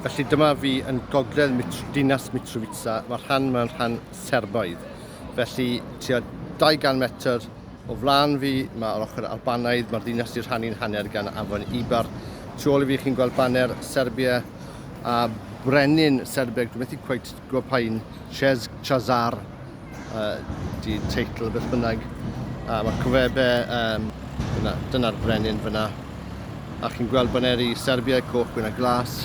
Felly dyma fi yn gogledd mitr, dinas Mitrovica, mae'r rhan mae'n rhan Serbaidd. Felly tua 200 metr o flaen fi, mae'r ochr Albanaidd, mae'r ddinas i'r rhan i'n hanner gan afon Ibar. Tu ôl i fi chi'n gweld baner Serbia a brenin Serbeg, dwi'n methu cweith Gwpain Chez Chazar ydy teitl beth bynnag. A mae'r cofebe, um, dyna'r dyna brenin fyna. A chi'n gweld baneri Serbia, coch, gwyn a glas.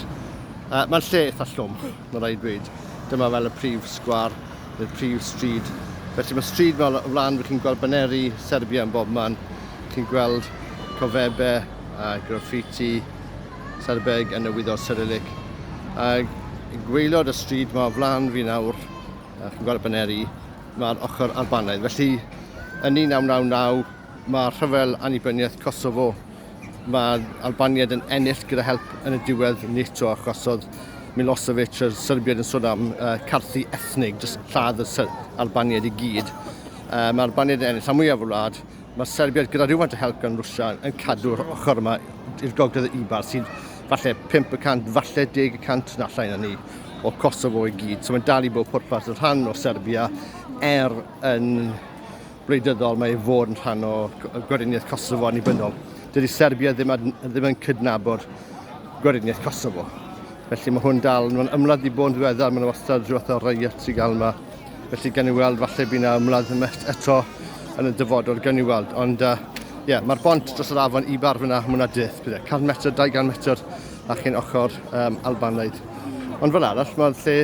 Uh, Mae'r lle eitha llwm, mae rhaid dweud. Dyma fel y prif sgwar, neu'r prif stryd. Felly mae stryd fel o flaen, chi'n gweld baneri Serbia yn bob man. Chi'n gweld cofebe a graffiti Serbeg yn y Wyddor Cyrillic. A gweilod y stryd mae o flan fi nawr, a chi'n gweld y baneri, mae'r ochr Albanaidd. Felly, yn 1999, mae rhyfel annibyniaeth Kosovo, mae Albaniad yn ennill gyda help yn y diwedd NATO, achos oedd Milosevic, yr Serbiad yn sôn am uh, carthu ethnig, jyst lladd y Albaniad i gyd. Uh, mae Albaniad yn ennill rhan mwyaf y wlad, Mae Serbiaid gyda rhywfaint o help gan Rwsia yn cadw'r ochr yma i'r gogledd y Ibar sy'n falle 500, falle 10% na llai na ni o Kosovo i gyd. So mae'n dal i bod pwrpas y rhan o Serbia er yn wleidyddol mae ei fod yn rhan o gweriniaeth Kosovo annibynnol. Dydy Serbia ddim, ad, ddim yn cydnabod gweriniaeth Kosovo. Felly mae hwn dal, mae'n ymladd i bod yn ddiweddar, mae'n wastad rhywbeth o riot i gael yma. Felly, gan i weld, falle bydd yna ymladd yma eto yn y dyfodol, gan i weld. Ond, ie, uh, yeah, mae'r bont dros yr afon i bar fyna, mae yna dydd, bydd 100 metr, 200 metr, a chi'n ochr um, Albanaidd. Ond fel arall, mae'r lle,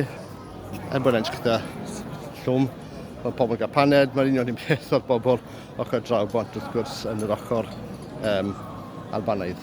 er bod e'n gyda llwm, mae pobl gael paned, mae'r union un peth o'r bobl ochr draw bont wrth gwrs yn yr ochr um, Albanaidd.